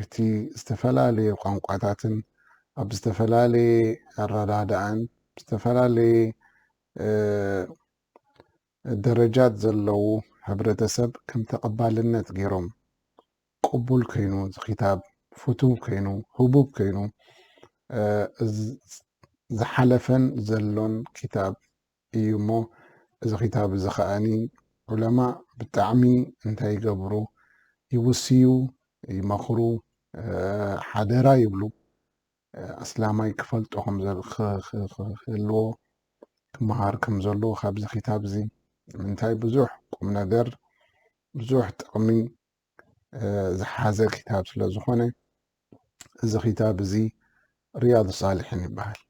እቲ ዝተፈላለየ ቋንቋታትን ኣብ ዝተፈላለየ ኣረዳድኣን ዝተፈላለየ ደረጃት ዘለዉ ሕብረተሰብ ከም ተቐባልነት ገይሮም ቅቡል ኮይኑ ዝኪታብ ፍቱው ኮይኑ ህቡብ ኮይኑ ዝሓለፈን ዘሎን ክታብ እዩ እሞ እዚ ክታብ እዚ ከኣ ዑለማ ብጣዕሚ እንታይ ይገብሩ ይውስዩ ይመኽሩ ሓደራ ይብሉ ኣስላማይ ክፈልጦ ክህልዎ ክመሃር ከም ዘለዎ ካብዚ ክታብ እዚ ምንታይ ብዙሕ ቁም ነገር ብዙሕ ጥቕሚ ዝሓዘ ክታብ ስለ ዝኾነ እዚ ክታብ እዚ ርያድ ሳልሒን ይበሃል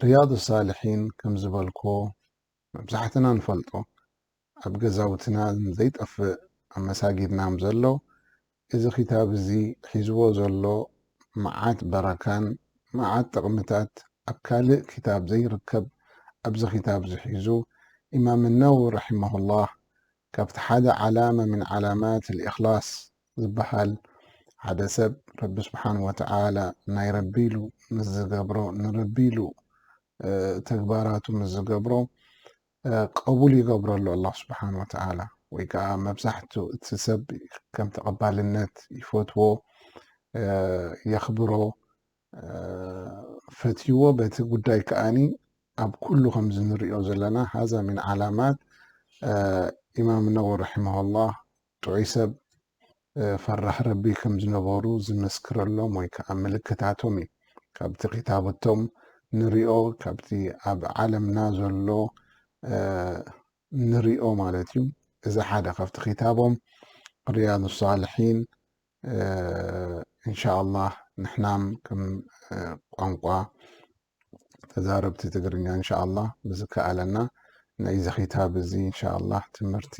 ርያድ ሳልሒን ከም ዝበልኮ መብዛሕትና ንፈልጦ ኣብ ገዛውትና ዘይጠፍእ ኣብ መሳጊድናም ዘሎ እዚ ክታብ እዚ ሒዝዎ ዘሎ መዓት በረካን መዓት ጥቕምታት ኣብ ካልእ ክታብ ዘይርከብ ኣብዚ ክታብ ዝሒዙ ኢማም ነው ርሒመሁላህ ካብቲ ሓደ ዓላመ ምን ዓላማት ልእኽላስ ዝበሃል ሓደ ሰብ ረቢ ስብሓን ወተዓላ ናይ ረቢ ኢሉ ምስ ዝገብሮ ንረቢ ኢሉ ተግባራቱ ምስ ዝገብሮ ቀቡል ይገብረሉ ኣላህ ስብሓን ወተዓላ ወይ ከዓ መብዛሕትኡ እቲ ሰብ ከም ተቐባልነት ይፈትዎ የኽብሮ ፈትይዎ በቲ ጉዳይ ከኣኒ ኣብ ኩሉ ከምዚ ንሪኦ ዘለና ሃዛ ሚን ዓላማት ኢማም ነወ ረሒመሁላህ ጥዑይ ሰብ ፈራሕ ረቢ ከም ዝነበሩ ዝምስክረሎም ወይ ከዓ ምልክታቶም እዩ ካብቲ ክታበቶም ንሪኦ ካብቲ ኣብ ዓለምና ዘሎ ንሪኦ ማለት እዩ እዚ ሓደ ካብቲ ክታቦም ርያዱ ሳልሒን እንሻኣላህ ንሕናም ከም ቋንቋ ተዛረብቲ ትግርኛ እንሻኣላህ ብዝከኣለና ናይዚ ክታብ እዚ እንሻኣላህ ትምህርቲ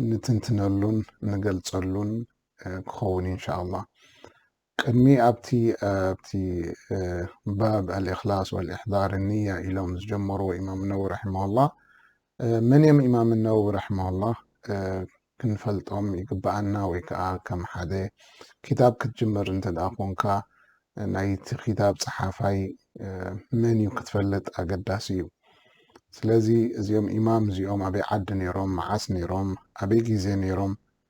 ንትንትነሉን ንገልፀሉን ክኸውን እዩ እንሻኣላህ። ቅድሚ ኣብቲ ኣብቲ ባብ ኣልእኽላስ ወልእሕዳር ንያ ኢሎም ዝጀመርዎ ኢማም ነዊ ረሒመሁላህ መን እዮም ኢማም ነዊ ረሒመሁላህ ክንፈልጦም ይግብኣና ወይ ከዓ ከም ሓደ ክታብ ክትጅምር እንተ ደኣ ኮንካ ናይቲ ክታብ ፀሓፋይ መን እዩ ክትፈልጥ ኣገዳሲ እዩ ስለዚ እዚኦም ኢማም እዚኦም ኣበይ ዓዲ ነይሮም መዓስ ነይሮም ኣበይ ግዜ ነይሮም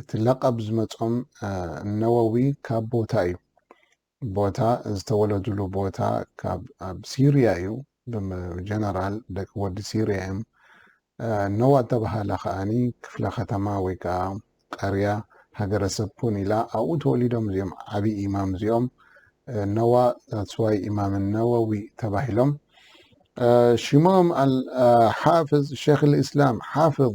እቲ ለቐብ ዝመጾም ነወዊ ካብ ቦታ እዩ። ቦታ ዝተወለዱሉ ቦታ ካብ ኣብ ሲርያ እዩ። ብጀነራል ደቂ ወዲ ሲርያ እዮም። ነዋ እተባህለ ከኣኒ ክፍለ ከተማ ወይ ከኣ ቀርያ ሃገረሰብ ኩን ኢላ ኣብኡ ተወሊዶም እዚኦም ዓቢ ኢማም እዚኦም ነዋ ዛትስዋይ ኢማም ነወዊ ተባሂሎም ሽሞም ሓፍዝ ሸክ ልእስላም ሓፍዝ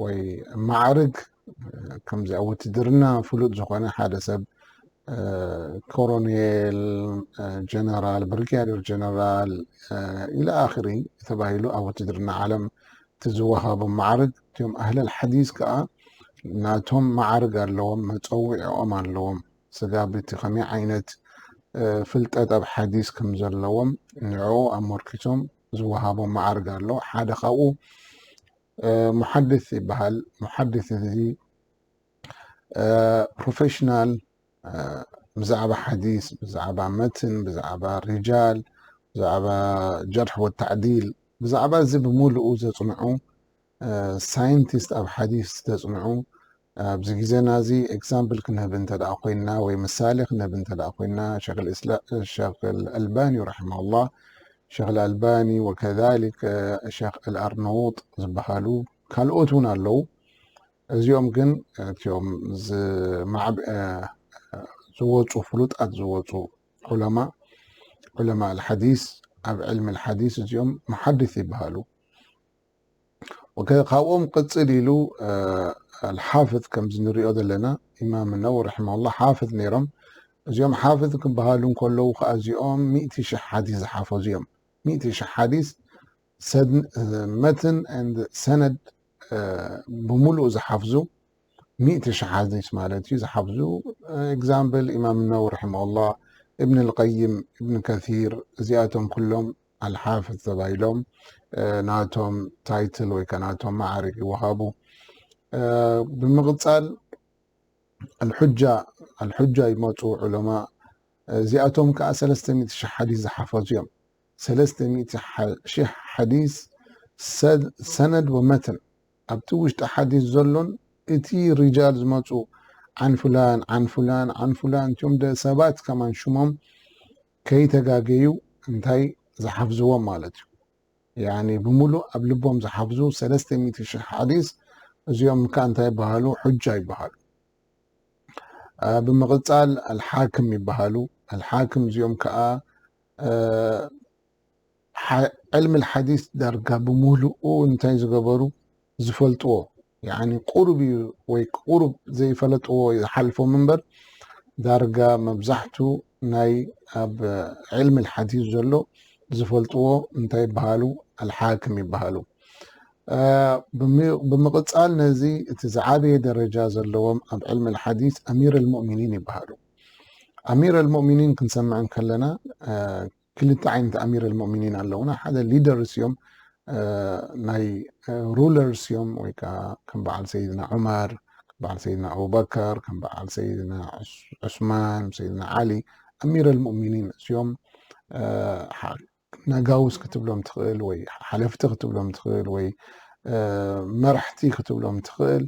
ወይ ማዕርግ ከምዚ ኣብ ውትድርና ፍሉጥ ዝኾነ ሓደ ሰብ ኮሮኔል፣ ጀነራል፣ ብርጋዴር ጀነራል ኢለ ኣኽሪ ተባሂሉ ኣብ ውትድርና ዓለም እቲ ዝወሃቦም ማዕርግ እቲኦም ኣህለል ሓዲስ ከዓ ናቶም ማዕርግ ኣለዎም፣ መፀውዒኦም ኣለዎም። ስጋብ እቲ ከመይ ዓይነት ፍልጠት ኣብ ሓዲስ ከም ዘለዎም ንዕኡ ኣመርኪቶም ዝወሃቦም ማዕርግ ኣሎ። ሓደ ካብኡ ሙሓድስ ይበሃል። ሙሓድስ እዚ ፕሮፌሽናል ብዛዕባ ሓዲስ ብዛዕባ መትን ብዛዕባ ሪጃል ብዛዕባ ጀርሒ ወተዕዲል ብዛዕባ እዚ ብምሉኡ ዘፅንዑ ሳይንቲስት ኣብ ሓዲስ ዘፅንዑ ኣብዚ ግዜና እዚ ኤግዛምፕል ክንህብ እንተ ደኣ ኮይንና ወይ ምሳሌ ክንህብ እንተ ደኣ ኮይንና ሸኽ ኣልእስላም ሸኽ ኣልኣልባኒ ረሒመሁላህ ሸኽ ኣልኣልባኒ ወከዛሊከ ሸኽ ኣልኣርነዉጥ ዝበሃሉ ካልኦት እውን ኣለዉ እዚኦም ግን እትኦም ዝማዕብ ዝወጹ ፍሉጣት ዝወጹ ዑለማ ዑለማ ኣልሓዲስ ኣብ ዕልሚ ኣልሓዲስ እዚኦም መሓድስ ይበሃሉ ኦከ ካብኦም ቅጽል ኢሉ ሓፍት ከምዚ ንሪኦ ዘለና ኢማም ነው ረሒመሁላህ ሓፍት ነይሮም እዚኦም ሓፍት ክበሃሉ እንከለዉ ከዓ እዚኦም ሚእቲ ሽሕ ሓዲስ ዝሓፈዙ እዮም ሚእቲ ሽሕ ሓዲስ መትን ሰነድ ብምሉእ ዝሓፍዙ ሚእቲ ሽሕ ሓዲስ ማለት እዩ ዝሓፍዙ ኤግዛምፕል ኢማም ነው ረሒመሁላህ እብን ልቀይም እብን ከሲር እዚኣቶም ኩሎም ኣልሓፍዝ ተባሂሎም ናቶም ታይትል ወይ ከዓ ናቶም መዓርግ ይወሃቡ። ብምቕፃል ኣልሑጃ ኣልሑጃ ይመፁ ዑለማ እዚኣቶም ከዓ ሰለስተ ሚእቲ ሽሕ ሓዲስ ዝሓፈዙ እዮም። ሰለስተ ሚእቲ ሽሕ ሓዲስ ሰነድ ወመትን ኣብቲ ውሽጢ ሓዲስ ዘሎን እቲ ሪጃል ዝመፁ ዓን ፉላን ዓን ፉላን ዓን ፉላን እትም ሰባት ከማን ሽሞም ከይተጋገዩ እንታይ ዝሓፍዝዎም ማለት እዩ ያኒ ብምሉእ ኣብ ልቦም ዝሓፍዙ ሰለስተ ሚእቲ ሽሕ ሓዲስ እዚኦም እካ እንታይ ይበሃሉ ሑጃ ይበሃሉ ብምቕጻል ኣልሓክም ይበሃሉ ኣልሓክም እዚኦም ከዓ ዕልም ልሓዲስ ዳርጋ ብምሉኡ እንታይ ዝገበሩ ዝፈልጥዎ ያኒ ቁሩብ እዩ ወይ ቁሩብ ዘይፈለጥዎ ዝሓልፎም እምበር ዳርጋ መብዛሕቱ ናይ ኣብ ዕልም ልሓዲስ ዘሎ ዝፈልጥዎ እንታይ ይበሃሉ ኣልሓክም ይበሃሉ ብምቕፃል ነዚ እቲ ዝዓበየ ደረጃ ዘለዎም ኣብ ዕልም ልሓዲስ ኣሚር ልሙእሚኒን ይበሃሉ ኣሚር ልሙእሚኒን ክንሰምዕ ከለና ክልተ ዓይነት ኣሚር ኣልሞእሚኒን ኣለውና ሓደ ሊደርስ እዮም ናይ ሩለርስ እዮም ወይ ከዓ ከም በዓል ሰይድና ዑመር ከም በዓል ሰይድና ኣቡበከር ከም በዓል ሰይድና ዑስማን ሰይድና ዓሊ ኣሚር ኣልሞእሚኒን እሲኦም ነጋውስ ክትብሎም ትኽእል ወይ ሓለፍቲ ክትብሎም ትኽእል ወይ መራሕቲ ክትብሎም ትኽእል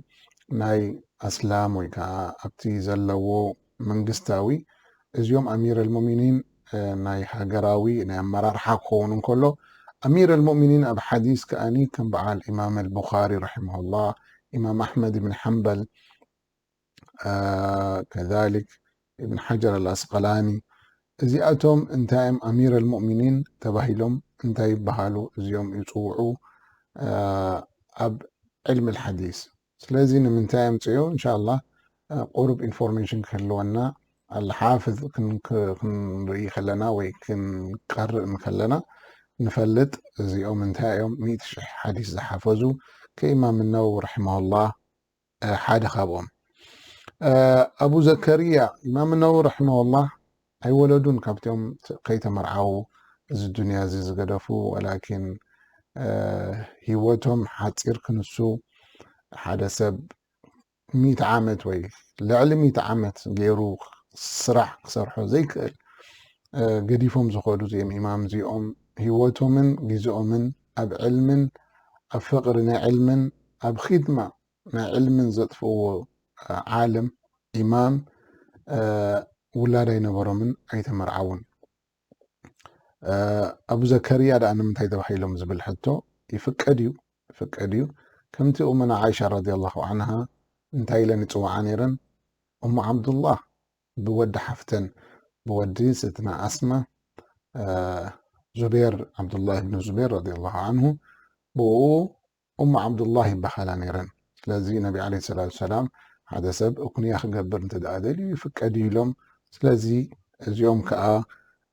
ናይ ኣስላም ወይ ከዓ ኣብቲ ዘለዎ መንግስታዊ እዚኦም ኣሚር ኣልሞሚኒን ናይ ሃገራዊ ናይ ኣመራርሓ ክኸውን እንከሎ ኣሚር ኣልሞሚኒን ኣብ ሓዲስ ከኣኒ ከም በዓል ኢማም ኣልቡኻሪ ረሒመሁላህ ኢማም ኣሕመድ ብን ሓንበል ከዛሊክ ኢብን ሓጀር ኣልኣስቀላኒ እዚኣቶም እንታይም ኣሚር ኣልሞሚኒን ተባሂሎም እንታይ ይበሃሉ እዚኦም ይፅውዑ ኣብ ዕልሚ ልሓዲስ ስለዚ ንምንታይ ኣምጽእዮ እንሻላ ቁሩብ ኢንፎርሜሽን ክህልወና ኣልሓፍዝ ክንርኢ ከለና ወይ ክንቀርእ እንከለና ንፈልጥ እዚኦም እንታይ እዮም ሚእቲ ሽሕ ሓዲስ ዝሓፈዙ ከኢማም ነው ረሒማሁላህ ሓደ ካብኦም ኣቡ ዘከርያ ኢማም ነው ረሒማሁላህ ኣይወለዱን ካብቲኦም ከይተመርዓዉ እዚ ዱንያ እዚ ዝገደፉ ወላኪን ሂወቶም ሓጺር ክንሱ ሓደ ሰብ ሚእቲ ዓመት ወይ ልዕሊ ሚእቲ ዓመት ጌሩ ስራሕ ክሰርሖ ዘይክእል ገዲፎም ዝኸዱ እዚኦም ኢማም እዚኦም ሂወቶምን ግዝኦምን ኣብ ዕልምን ኣብ ፍቅሪ ንዕልምን ኣብ ኺድማ ናይ ዕልምን ዘጥፍእዎ ዓለም ኢማም ውላድ ኣይነበሮምን ኣይተመርዓውን። ኣቡ ዘከርያ ደኣ ንምንታይ ተባሂሎም ዝብል ሕቶ ይፍቀድ እዩ ይፍቀድ እዩ ከምቲ ኡመና ዓይሻ ረዲየላሁ ዓንሃ እንታይ ኢለን ይፅውዓ ነይረን እሙ ዓብዱላህ ብወዲ ሓፍተን ብወዲ ስትና ኣስማ ዙቤር ዓብዱላህ ብን ዙቤር ረዲየላሁ ዓንሁ ብኡ ኡሙ ዓብዱላህ ይበሃላ ነይረን። ስለዚ ነቢ ዓለይሂ ሰላቱ ወሰላም ሓደ ሰብ ኹንያ ክገብር እንተ ደኣ ደልዩ ይፍቀድ እዩ ኢሎም። ስለዚ እዚኦም ከኣ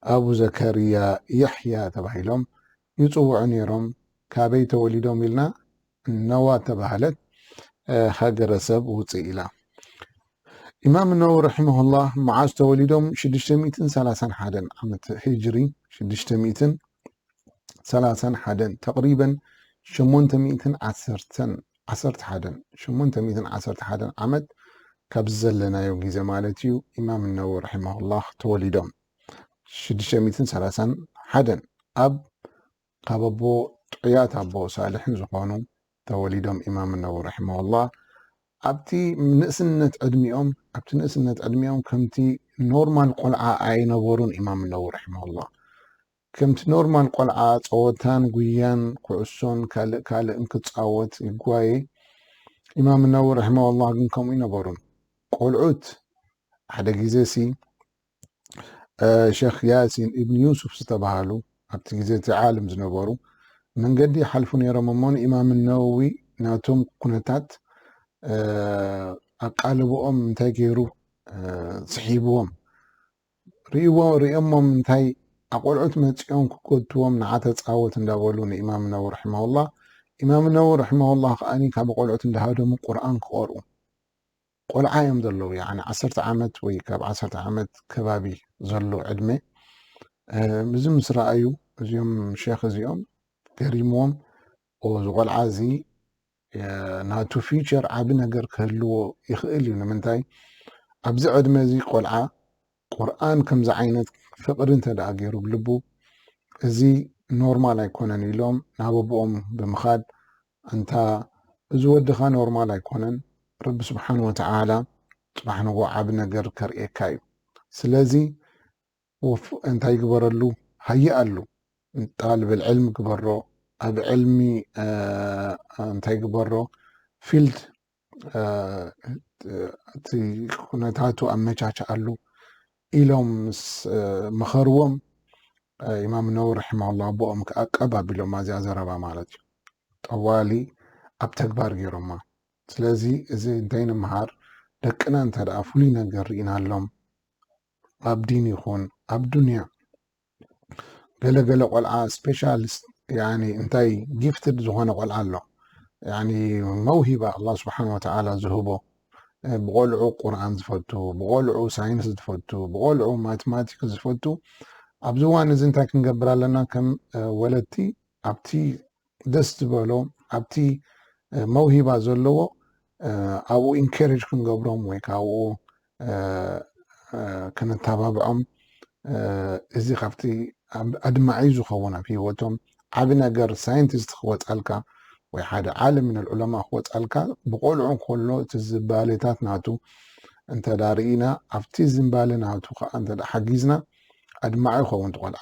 ኣቡ ዘከርያ የሕያ ተባሂሎም ይጽውዑ ነይሮም። ካበይ ተወሊዶም ኢልና? ነዋ እተባህለት ሃገረሰብ ውጽእ ኢላ። ኢማም ነወዊ ረሒመሁላህ መዓዝ ተወሊዶም? ሽዱሽተ ሚእትን ሰላሳን ሓደን ዓመተ ሂጅሪ ሽዱሽተ ሚእትን ሰላሳን ሓደን ተቅሪበን ሸሞንተ ሚእትን ዓሰርተን ዓሰርተ ሓደን ሸሞንተ ሚእትን ዓሰርተ ሓደን ዓመት ካብዚ ዘለናዮ ግዜ ማለት እዩ ኢማም ነዊ ረሒማሁላህ ተወሊዶም ሽዱሽተ ሚእትን ሰላሳን ሓደን ኣብ ካብ ኣቦ ጥዑያት ኣቦ ሳልሕን ዝኾኑ ተወሊዶም ኢማም ነዊ ረሒማሁላህ ኣብቲ ንእስነት ዕድሚኦም ኣብቲ ንእስነት ዕድሚኦም ከምቲ ኖርማል ቆልዓ ኣይነበሩን ኢማም ነዊ ረሒማላ ከምቲ ኖርማል ቆልዓ ጸወታን ጉያን ኩዕሶን ካልእ ካልእን ክጻወት ይጓየ ኢማም ነውሪ ረሒመሁላህ ግን ከምኡ ኣይነበሩን ቆልዑት ሓደ ግዜሲ ሸኽ ያሲን ኢብን ዩሱፍ ዝተባሃሉ ኣብቲ ግዜ እቲ ዓልም ዝነበሩ መንገዲ ይሓልፉ ነይሮም እሞ ንኢማም ነውዊ ናቶም ኩነታት ኣቃልብኦም እንታይ ገይሩ ስሒብዎም ሪእዎ ሪኦሞም እንታይ ኣቆልዑት መጺኦም ክጎትትዎም ንዓ ተጻወት እንዳበሉ ንኢማም ነዊ ረሒመሁላህ ኢማም ነዊ ረሒመሁላህ ከኣ ካብ ቆልዑት እንዳሃደሙ ቁርኣን ክቀርኡ ቆልዓ እዮም ዘለዉ ያኒ ዓሰርተ ዓመት ወይ ካብ ዓሰርተ ዓመት ከባቢ ዘሎ ዕድመ እዚ ምስ ረኣዩ እዚኦም ሸኽ እዚኦም ገሪምዎም ዝቆልዓ እዚ ናቱ ፊቸር ዓቢ ነገር ክህልዎ ይኽእል እዩ ንምንታይ ኣብዚ ዕድመ እዚ ቆልዓ ቁርኣን ከምዚ ዓይነት ፍቅሪ እንተ ገይሩ ብ ልቡ እዚ ኖርማል ኣይኮነን ኢሎም ናብ ኣቦኦም ብምኻድ እንታ እዚ ወድኻ ኖርማል ኣይኮነን ረቢ ስብሓን ወተዓላ ፅባሕ ንጎ ዓቢ ነገር ከርእየካ እዩ ስለዚ ኡፍ እንታይ ግበረሉ ሃየ ኣሉ ጣልብ ኣልዕልም ግበሮ ኣብ ዕልሚ እንታይ ግበሮ ፊልድ እቲ ኩነታቱ ኣመቻችኣሉ ኢሎም ምስ መኸርዎም ኢማም ነዊ ርሒማላ ኣቦኦም ከዓ ቀብ ኣቢሎማ እዚኣ ዘረባ ማለት እዩ ጠዋሊ ኣብ ተግባር ገይሮማ ስለዚ እዚ እንታይ ንምሃር ደቅና እንተ ፍሉይ ነገር ርኢናሎም ኣብ ዲን ይኹን ኣብ ዱንያ ገለ ገለ ቆልዓ ስፔሻሊስት ያኒ እንታይ ጊፍትድ ዝኾነ ቆልዓ ኣሎ ያኒ መውሂባ ኣላ ስብሓን ወተዓላ ዝህቦ ብቆልዑ ቁርኣን ዝፈቱ ብቆልዑ ሳይንስ ዝፈቱ ብቆልዑ ማትማቲክ ዝፈቱ ኣብዚ እዋን እዚ እንታይ ክንገብር ኣለና ከም ወለድቲ ኣብቲ ደስ ዝበሎ ኣብቲ መውሂባ ዘለዎ ኣብኡ ኢንኬሬጅ ክንገብሮም ወይ ከዓ ኣብኡ ክንተባብዖም እዚ ካብቲ ኣድማዒ ዝኸውን ኣብ ሂወቶም ዓብ ነገር ሳይንቲስት ክወፃልካ ወይ ሓደ ዓለም ምን ዑለማ ክወፃልካ ብቆልዑ ከሎ እቲ ዝባሌታት ናቱ እንተ ርኢና ኣብቲ ዝንባሌ ናቱ ከዓ እተ ሓጊዝና ኣድማዒ ይኸውን ትቆልዓ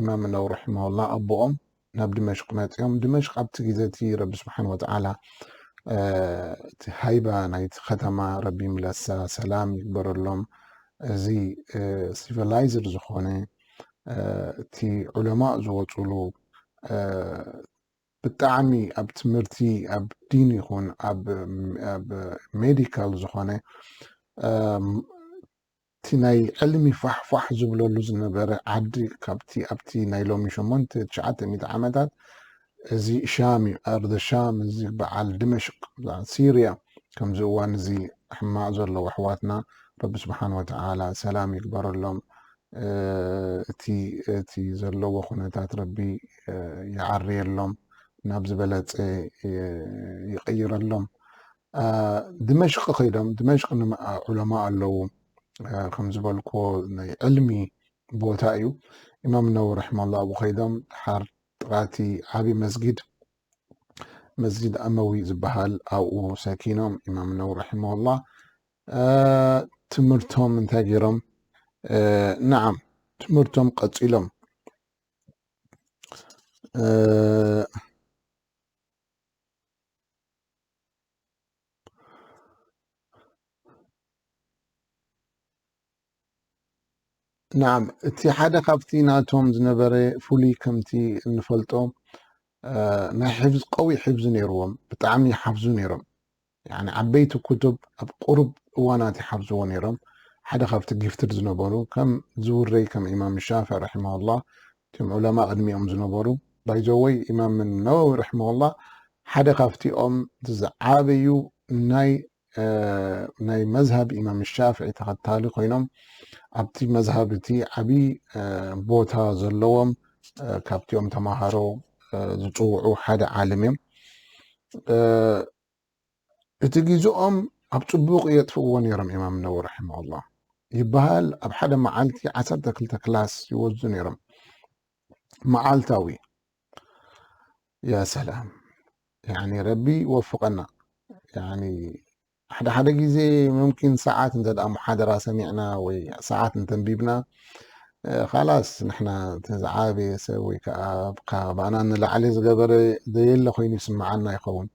ኢማም ነዊ ራሒመሁላህ ኣቦኦም ናብ ድመሽቅ መጺኦም ድመሽቅ ኣብቲ ግዜ እቲ ረቢ ስብሓን ወተዓላ እቲ ሃይባ ናይቲ ከተማ ረቢ ይምለሳ ሰላም ይግበረሎም እዚ ሲቪላይዝድ ዝኾነ እቲ ዑለማእ ዝወፅሉ ብጣዕሚ ኣብ ትምህርቲ ኣብ ዲን ይኹን ኣብ ሜዲካል ዝኾነ እቲ ናይ ዕልሚ ፋሕ ፋሕ ዝብለሉ ዝነበረ ዓዲ ካብቲ ኣብቲ ናይ ሎሚ ሸሞንተ ትሽዓተ ሚእቲ ዓመታት እዚ ሻም እዩ ኣርደ ሻም እዚ በዓል ድመሽቅ በዓል ሲርያ ከምዚ እዋን እዚ ሕማቅ ዘለዉ ኣሕዋትና ረቢ ስብሓን ወተዓላ ሰላም ይግበረሎም እቲ እቲ ዘለዎ ኩነታት ረቢ ይዓርየሎም ናብ ዝበለፀ ይቅይረሎም ድመሽቅ ከይዶም ድመሽቅ ንመኣ ዑለማ ኣለዉ ከም ዝበልክዎ ናይ ዕልሚ ቦታ እዩ ኢማም ነዊ ረሕማላ ኣብኡ ከይዶም ድሓር ጥቃቲ ዓብዪ መስጊድ መስጂድ ኣመዊ ዝበሃል ኣብኡ ሰኪኖም ኢማም ነዊ ረሒማላ ትምህርቶም እንታይ ገይሮም ንዓም ትምህርቶም ቀፂሎም ናዓ እቲ ሓደ ካብቲ ናቶም ዝነበረ ፍሉይ ከምቲ እንፈልጦ ናይ ሕፍዝ ቀዊ ሕፍዝ ነይርዎም ብጣዕሚ ይሓፍዙ ነይሮም ዓበይቲ ክቱብ ኣብ ቁሩብ እዋናት ይሓፍዝዎ ነይሮም ሓደ ካብቲ ጊፍትድ ዝነበሩ ከም ዝውረይ ከም ኢማም ሻፍዕ ራሕማሁላ እቶም ዑለማ ቅድሚኦም ዝነበሩ ባይዘወይ ኢማም ነወዊ ርሕመሁላህ ሓደ ካብቲኦም ዝዓበዩ ናይ ናይ መዝሃብ ኢማም ሻፍዒ ተኸታሊ ኮይኖም ኣብቲ መዝሃብ እቲ ዓብዪ ቦታ ዘለዎም ካብቲኦም ተምሃሮ ዝፅውዑ ሓደ ዓለም እዮም እቲ ጊዝኦም ኣብ ጽቡቅ የጥፍእዎ ኔሮም ኢማም ነወ ረሒመሁላህ ይበሃል ኣብ ሓደ መዓልቲ ዓሰርተ ክልተ ክላስ ይወዙ ኔሮም መዓልታዊ ያ ሰላም ያኒ ረቢ ይወፍቀና ያኒ ሓደ ሓደ ግዜ ሙምኪን ሰዓት እንተ መሓደራ ሰሚዕና ወይ ሰዓት እንተንቢብና ካላስ ንሕና ዝዓበየ ሰብ ወይ ከዓ ካባና ንላዕሊ ዝገበረ ዘየለ ኮይኑ ይስምዓና ይኸውን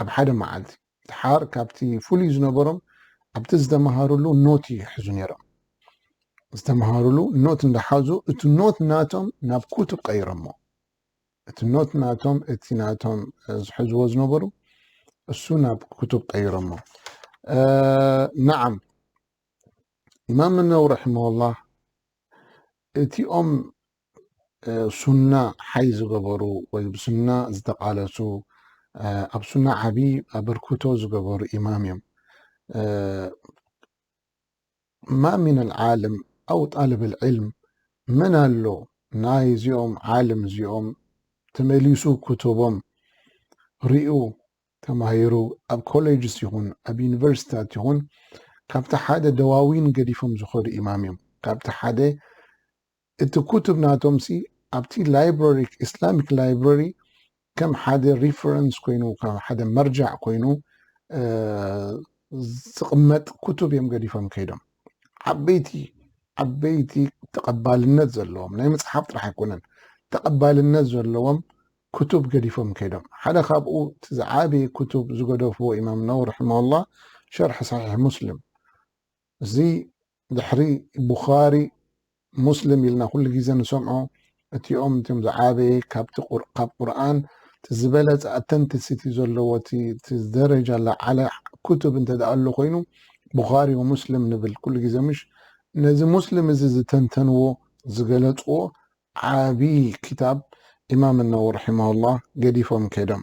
ኣብ ሓደ መዓልቲ ደሓር ካብቲ ፍሉይ ዝነበሮም ኣብቲ ዝተመሃርሉ ኖት ይሕዙ ነይሮም። ዝተመሃርሉ ኖት እንዳሓዙ እቲ ኖት ናቶም ናብ ኩቱብ ቀይሮሞ። እቲ ኖት ናቶም እቲ ናቶም ዝሕዝዎ ዝነበሩ እሱ ናብ ኩቱብ ቀይሮሞ። ነዓም ኢማም ነው ረሒመሁላህ እቲኦም ሱና ሓይ ዝገበሩ ወይ ብሱና ዝተቃለሱ ኣብ ሱና ዓቢ ኣበርክቶ ዝገበሩ ኢማም እዮም ማ ምን ኣልዓልም ኣው ጣልብ ልዕልም መን ኣሎ ናይ እዚኦም ዓልም እዚኦም ተመሊሱ ክቱቦም ሪኡ ተማሂሩ ኣብ ኮሌጅስ ይኹን ኣብ ዩኒቨርሲታት ይኹን ካብቲ ሓደ ደዋዊን ገዲፎም ዝኸዱ ኢማም እዮም ካብቲ ሓደ እቲ ኩቱብ ናቶምሲ ኣብቲ ላይብረሪ ኢስላሚክ ላይብረሪ ከም ሓደ ሪፈረንስ ኮይኑ ከም ሓደ መርጃዕ ኮይኑ ዝቕመጥ ኩቱብ እዮም ገዲፎም ከይዶም ዓበይቲ ዓበይቲ ተቐባልነት ዘለዎም ናይ መፅሓፍ ጥራሕ ኣይኮነን ተቐባልነት ዘለዎም ኩቱብ ገዲፎም ከይዶም ሓደ ካብኡ እቲ ዝዓበየ ኩቱብ ዝገደፍዎ ኢማም ነው ርሕመላ ሸርሒ ሳሒሕ ሙስሊም እዚ ድሕሪ ቡኻሪ ሙስልም ኢልና ኩሉ ግዜ ንሰምዖ እቲኦም እቲኦም ዝዓበየ ካብቲ ቁር ካብ ቁርኣን እቲ ዝበለጸ ኣተንትስ እቲ ዘለዎ እቲ እቲ ደረጃ ዝለዓለ ኩቱብ እንተ ደኣ ኣሎ ኮይኑ ቡኻሪ ወሙስልም ንብል ኩሉ ግዜ ምሽ ነዚ ሙስልም እዚ ዝተንተንዎ ዝገለጽዎ ዓቢ ክታብ ኢማም ነወ ርሒማሁላህ ገዲፎም ከይዶም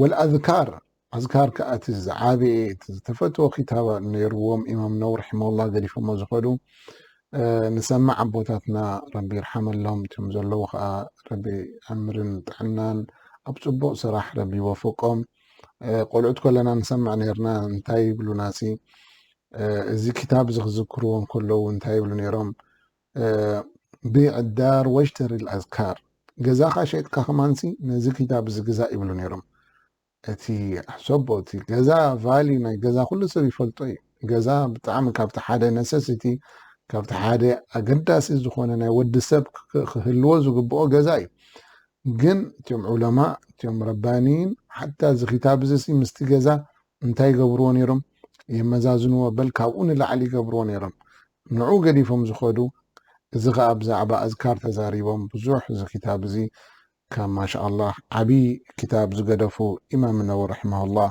ወልኣዝካር፣ ኣዝካር ከኣ እቲ ዝዓበየ እቲ ዝተፈትወ ክታብ ኔርዎም ኢማም ነውዊ ርሒመሁላህ ገዲፎሞ ዝኸዱ ንሰማዕ ኣቦታትና ረቢ ይርሓመሎም እቶም ዘለዉ ከኣ ረቢ ዕምርን ጥዕናን ኣብ ጽቡቕ ስራሕ ረቢ ይወፍቆም ቆልዑት ከለና ንሰምዕ ኔርና እንታይ ይብሉናሲ እዚ ክታብ እዚ ክዝክርዎ ከለዉ እንታይ ይብሉ ኔሮም ቢዕ ኣዳር ወሽተሪ ኣልኣዝካር ገዛኻ ሸይጥካ ከማንሲ ነዚ ክታብ እዚ ግዛእ ይብሉ ነይሮም እቲ ኣሕሰቦ እቲ ገዛ ቫሊ ናይ ገዛ ኩሉ ሰብ ይፈልጦ እዩ ገዛ ብጣዕሚ ካብቲ ሓደ ነሰሲቲ ካብቲ ሓደ ኣገዳሲ ዝኾነ ናይ ወዲ ሰብ ክህልዎ ዝግብኦ ገዛ እዩ ግን እትም ዑለማ እትም ረባኒን ሓታ እዚ ክታብ እዚ ምስቲ ገዛ እንታይ ይገብርዎ ነይሮም? የመዛዝንዎ በል ካብኡ ንላዕሊ ይገብርዎ ነይሮም። ንዑ ገዲፎም ዝኸዱ እዚ ከኣ ብዛዕባ ኣዝካር ተዛሪቦም ብዙሕ እዚ ክታብ እዚ ከም ማሻኣላህ ዓቢ ክታብ ዝገደፉ ኢማም ነወዊ ረሕመሁላህ።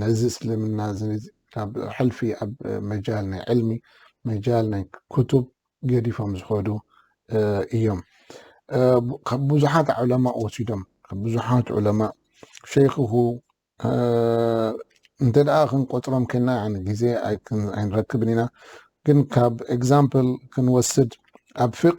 ነዚ እስልምና እዚ ካብ ሕልፊ ኣብ መጃል ናይ ዕልሚ መጃል ናይ ክቱብ ገዲፎም ዝኸዱ እዮም ካብ ብዙሓት ዑለማ ወሲዶም ካብ ብዙሓት ዑለማ ሸይኽሁ እንተ ደኣ ክንቆፅሮም ከና ያን ግዜ ኣይንረክብን ኢና ግን ካብ ኤግዛምፕል ክንወስድ ኣብ ፊቅ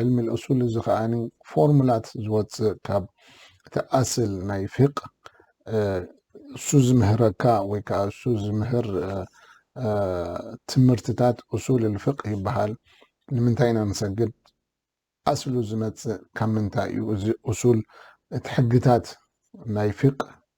ዕልሚ ልእሱል እዚ ከኣ ፎርሙላት ዝወፅእ ካብ እቲ ኣስል ናይ ፊቅ እሱ ዝምህረካ ወይ ከዓ እሱ ዝምህር ትምህርትታት እሱል ልፍቅ ይበሃል ንምንታይ ኢና ንሰግድ ኣስሉ ዝመፅእ ካብ ምንታይ እዩ እዚ እሱል እቲ ሕግታት ናይ ፊቅ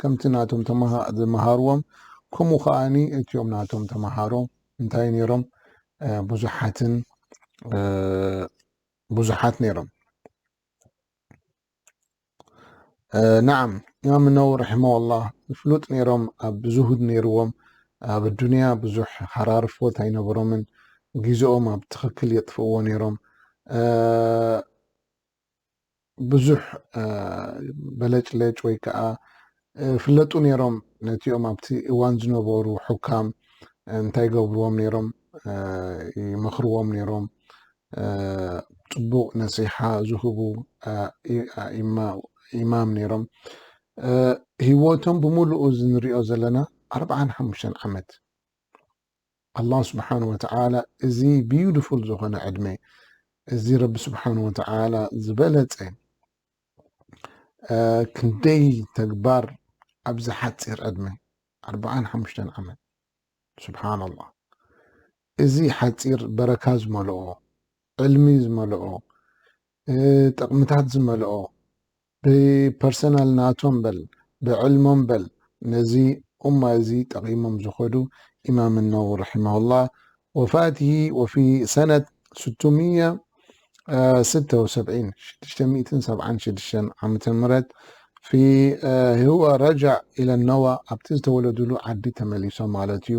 ከምቲ ናቶም ተማሃ ዝመሃርዎም ከምኡ ከኣኒ እትዮም ናቶም ተማሃሮ እንታይ ነይሮም ብዙሓትን ብዙሓት ነይሮም ናዓም ኢማም ነው ረሒመዋላህ ፍሉጥ ነይሮም ኣብ ዝሁድ ነይርዎም ኣብ ኣዱንያ ብዙሕ ሃራርፎት ኣይነበሮምን ግዜኦም ኣብ ትኽክል የጥፍእዎ ነይሮም ብዙሕ በለጭለጭ ወይ ከዓ ፍለጡ ነይሮም ነቲኦም ኣብቲ እዋን ዝነበሩ ሑካም እንታይ ገብርዎም ነይሮም ይመኽርዎም ነይሮም ፅቡቅ ነሲሓ ዝህቡ ኢማም ነይሮም ህይወቶም ብምሉኡ ዝንሪኦ ዘለና ኣርብዓን ሓሙሽተን ዓመት ኣላህ ስብሓን ወተዓላ እዚ ቢዩትፉል ዝኾነ ዕድመ እዚ ረቢ ስብሓን ወተዓላ ዝበለፀ ክንደይ ተግባር ኣብዚ ሓፂር ዕድመ ኣርባዓን ሓሙሽተን ዓመት ስብሓን ኣላህ እዚ ሓፂር በረካ ዝመልኦ ዕልሚ ዝመልኦ ጥቕምታት ዝመልኦ ብፐርሰናል ናቶም በል ብዕልሞም በል ነዚ ኡማ እዚ ጠቂሞም ዝኸዱ ኢማም ነውዊ ረሒመሁላህ ወፋትሂ ወፊ ሰነት ስትሚያ ስተ ወሰብዒን ሽዱሽተ ሚእትን ሰብዓን ሽዱሽተን ዓመተ ምህረት ፊ ህወ ረጃዕ ኢለ ነዋ ኣብቲ ዝተወለዱሉ ዓዲ ተመሊሶም ማለት እዩ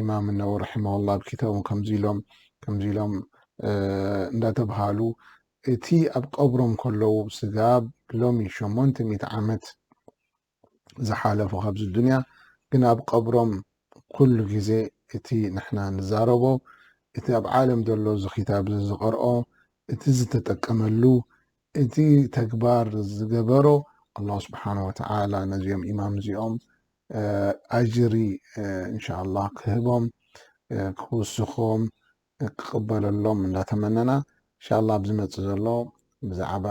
ኢማም እነወ ረሒመሁላህ ኣብ ክታቦም ከምዚ ኢሎም ከምዚ ኢሎም እንዳተብሃሉ እቲ ኣብ ቀብሮም ከለዉ ስጋብ ሎሚ ሸሞንተ ሚእቲ ዓመት ዝሓለፉ ካብዚ ዱንያ ግን ኣብ ቀብሮም ኩሉ ግዜ እቲ ንሕና ንዛረቦ እቲ ኣብ ዓለም ዘሎ እዚ ክታብ እዚ ዝቐርኦ እቲ ዝተጠቀመሉ እቲ ተግባር ዝገበሮ ኣላሁ ስብሓነ ወተዓላ ነዚኦም ኢማም እዚኦም ኣጅሪ እንሻኣላህ ክህቦም ክውስኾም ክቅበለሎም እንዳተመነና እንሻኣላህ ኣብ ዝመጽእ ዘሎ ብዛዕባ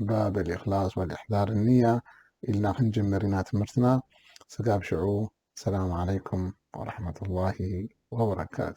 ባብ ኣልእኽላስ ወልእሕዳር ንያ ኢልና ክንጅምር ኢና ትምህርትና ስጋብ ሽዑ ሰላም ዓለይኩም ወራህመቱላሂ ወበረካቱ።